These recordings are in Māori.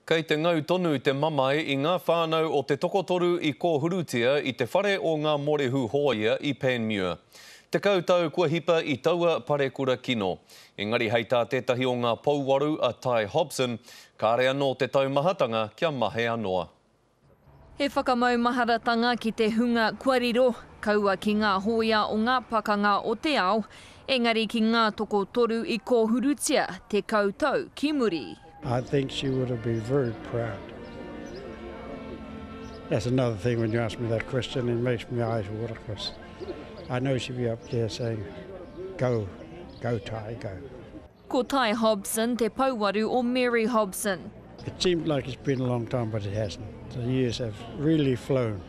Kei te ngau tonu te mamae i ngā whānau o te tokotoru i kōhurutia i te whare o ngā morehu hōia i Panmure. Tekau tau kua hipa i taua parekura kino. Engari hei tā tētahi o ngā pouaru a Ty Hobson, kāre anō te taumahatanga kia mahea noa. He whakamaumaharatanga ki te hunga kua riro, kaua ki ngā hōia o ngā pakanga o te ao, engari ki ngā tokotoru i kōhurutia tekau tau ki muri. I think she would have been very proud. That's another thing when you ask me that question it makes me eyes water because I know she'd be up there saying go, go Ty, go. Ko Tai Hobson te pouaru o Mary Hobson. It seemed like it's been a long time but it hasn't. The years have really flown.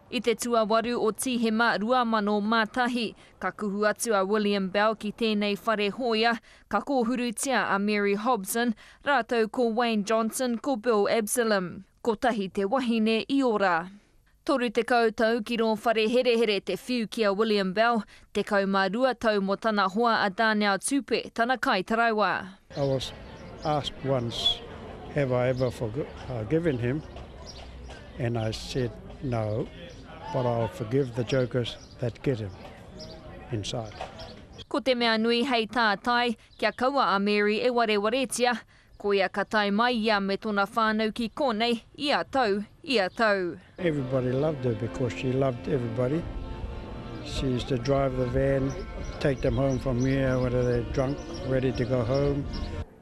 I te tuawaru o Tīhema 2001, ka kuhu atu a William Bell ki tēnei whare hōia, ka kōhurutia a Mary Hobson rātou ko Wayne Johnson ko Bill Absalom. Kotahi te wahine i ora. Toru tekau tau ki rō whare herehere te whiu ki a William Bell, tekau mā rua tau mō tana hoa a Darnell Tupe, tana kai taraiwa. I was asked once have I ever forgiven him and I said no but I'll forgive the jokers that get him inside. Ko te mea nui hei tātai, kia kaua a Mary e warewaretia, Koia ka tae mai ia me tona whanau ki konei ia tau, ia tau. Everybody loved her because she loved everybody. She used to drive the van, take them home from here when they were drunk, ready to go home.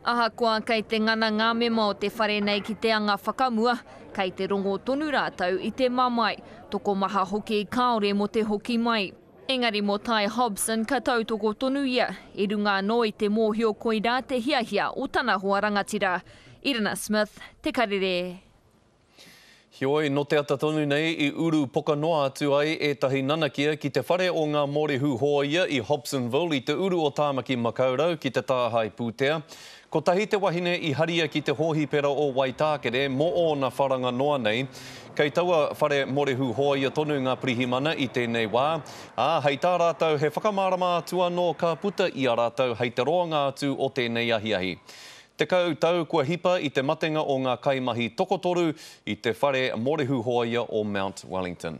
Ahakoa kei te ngana ngā mema o te whare nei ki te anga whakamua, kei te rongo tonu rātou i te mamae, tokomaha hoki kāore mō te hoki mai. Engari mō Tai Hobson ka tautoko tonu ia, i runga anō i te mōhio koirā te hiahia o tana hoa rangatira, Irina Smith, Te Karere. Heoi, nō te ata tonu nei i uru poka noa atu ai ētahi nanakia ki te whare o ngā Mōrehu Hōia i Hobsonville i te uru o Tāmaki Makaurau ki te tāhae pūtea. Kotahi te wahine i haria ki te hōhipera o Waitākere mō ōna wharanga noa nei. Kei taua whare morehu hōia tonu ngā pirihimana i tēnei wā, ā, hei tā rātou he whakamārama atu anō ka puta i a rātou hei te roanga atu o tēnei ahiahi. Tekau tau kua hipa i te matenga o ngā kaimahi tokotoru i te whare morehu hōia o Mount Wellington.